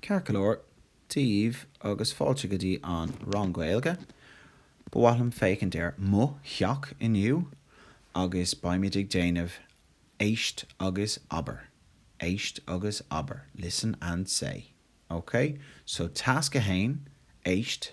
Ceart go leor daoibh agus fáilte go dtí an rang Gaeilge. Ba mhaith liom féachaint ar mo theach inniu agus beimid ag déanamh Éist agus Abair. Éist agus Abair, Listen and Say, OK? So Tasc a haon, Éist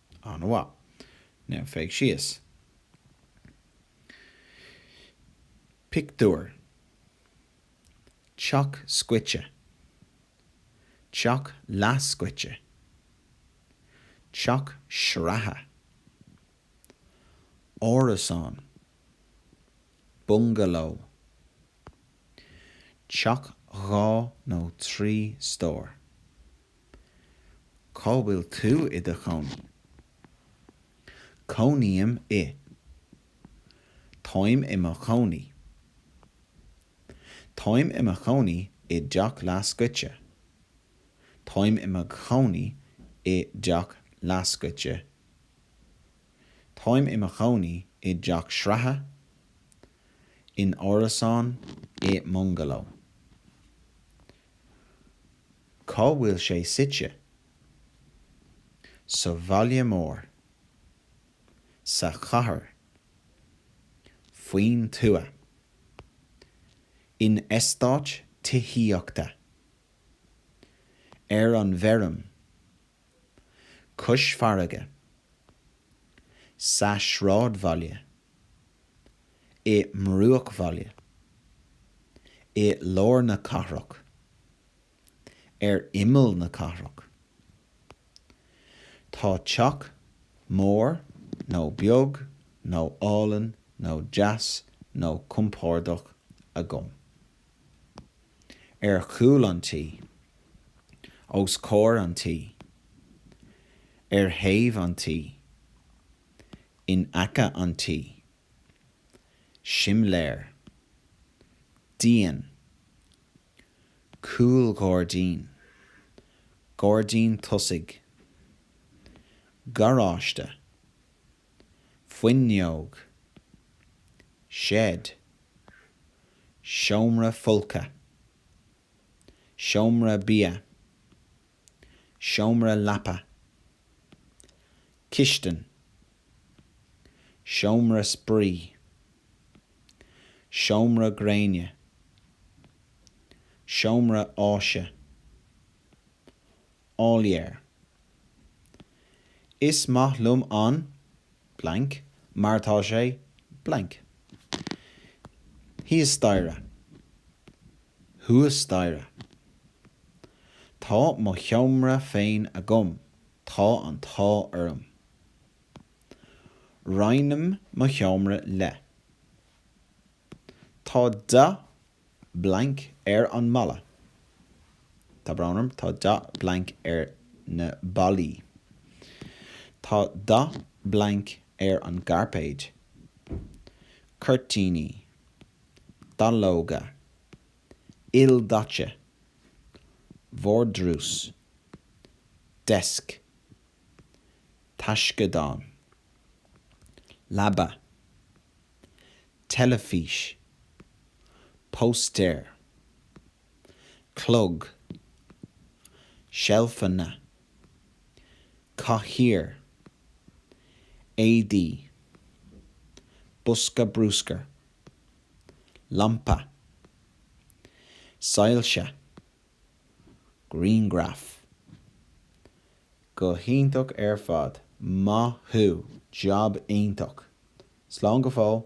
An-mhaith. Now féach síos. Pictiúr. Teach scoite. Teach leathscoite. Teach sraithe. Árasán. Bungaló. Teach dhá nó trí stór. Cá bhfuil tú i do chónaí? Cónaím i. Táim i mo chónaí. Táim i mo chónaí i dteach leathscoite. Táim i mo chónaí i dteach leathscoite. Táim i mo chónaí i dteach sraithe, in árasán, i mbungaló. Cá bhfuil sé suite? Sa bhaile mór. Sa chathair. Faoin tuath. In eastát tithíochta. Ar an bhfeirm. Cois farraige. Sa sráidbhaile. I mbruachbhaile. I lár na cathrach. ar imeall na cathrach. Tá teach mór nó beag nó álainn nó deas nó compordach agam. Ar chúl an tí. Os comhair an tí. Ar thaobh an tí. In aice an tí. Simléar. Díon. cúlghairdín, gairdín tosaigh, garáiste, fuinneog, seid, seomra folctha, seomra bia. seomra leapa, cistin, seomra spraoi, seomra gréine, seomra áise, áiléar, Is maith liom an, blank, mar tá sé, blank, thíos staighre. thuas staighre. Tá mo sheomra féin agam, tá an t-ádh orm. Roinnim mo sheomra le. Tá dath blanc ar an mballa. Tá brón orm, tá dath blanc ar na ballaí. Tá dath blanc ar an gcairpéad. Cuirtíní. dallóga, ildaite, vardrús, desk, taisceadán, leaba, teilifís, póstaer, clog, seilfeanna, cathaoir, éadaí, bosca brúscair, lampa, soilse, grianghraif. Go hiontach ar fad. Maith thú. Jab iontach. Slán go fóill.